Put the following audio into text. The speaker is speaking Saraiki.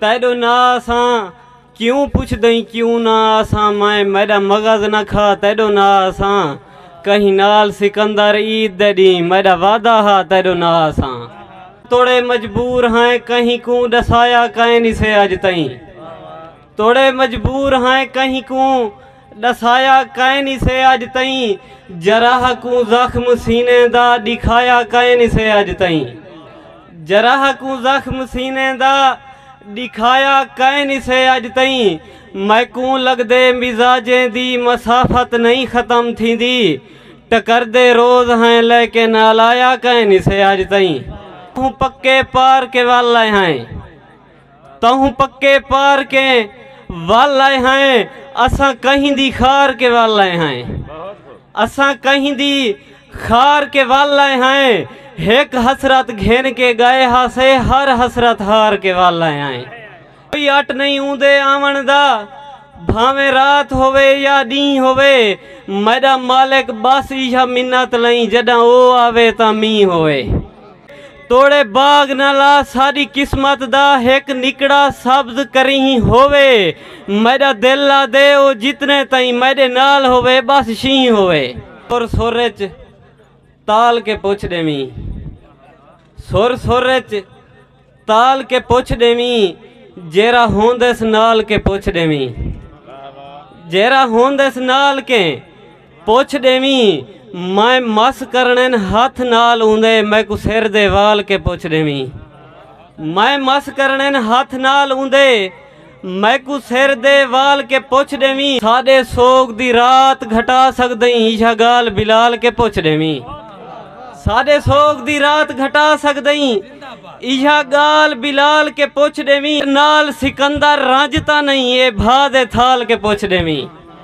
تیڈو نا آساں کیوں پچھدئیں کیوں نا آساں مائیں میڈا مغز نہ کھا تیڈو نا آساں کہیں نال سکندر عید دے ڈینہہ میڈا وعدہ ہا تیڈو نا آساں توڑے مجبور ہائیں کہیں کوں ڈسایا کائنی سے اج تئیں توڑے مجبور ہائیں کہیں کوں ڈسایا کائنی سے اج تئیں جراح کوں زخم سینے دا ڈکھایا کائنی سے اج تئیں جراح کوں زخم سینے دا ڈکھایا کائنی سے اج تئیں میکوں لگدے مزاجیں دی مسافت نئیں ختم تھیندی ٹکردے روز ہیں لیکن الایا کائنی سے اج تئیں توں پکے پار کے ول لئے ہیں تہوں پکے پار کے ول آئے ہیں اساں کہیں دی خار کے ول آئے ہیں اساں کہیں دی خار کے ول آئے ہیں ہک حسرت گھن کے گئے ہا سے ہر حسرت ہار کے ول آئے ہیں کوئی اٹ نہیں اون دے آون دا بھاویں رات ہوئے یا دین ہوئے میڈا مالک بس ایشا منت لئیں جڈاں او آوے تا مین ہوئے توڑے باغ نہ لا ساݙی قسمت دا ہک نکڑا سبز کریہں ہووے میݙا دل آہدے او جتنے تئیں میݙے نال ہووے ٻس شینہں ہووے۔ سر سر اچ تال کے پچھ ݙیویں سر سر اچ۔ تال کے پچھ ڈیویں جیرا ہوندس نال کے پچھ ڈیویں جیرا ہوندس نال کے پچھ ڈیویں میں مس کرنے ہاتھ نال اوندے میں کو سر دے وال کے پچھ ڈیویں میں مس کرنے ہاتھ نال اوندے میکوں سر دے وال کے پچھ ڈیویں۔ ساڈے سوگ دی رات گھٹا سگدئیں ایہا گال بلال کے پچھ ڈیویں۔ ساڈے سوگ دی رات گھٹا سگدئیں ایہا گال بلال کے پچھ ڈیویں۔ نال سکندر رنج تاں نئیں اے بھا دے تھال کے پچھ ڈیویں۔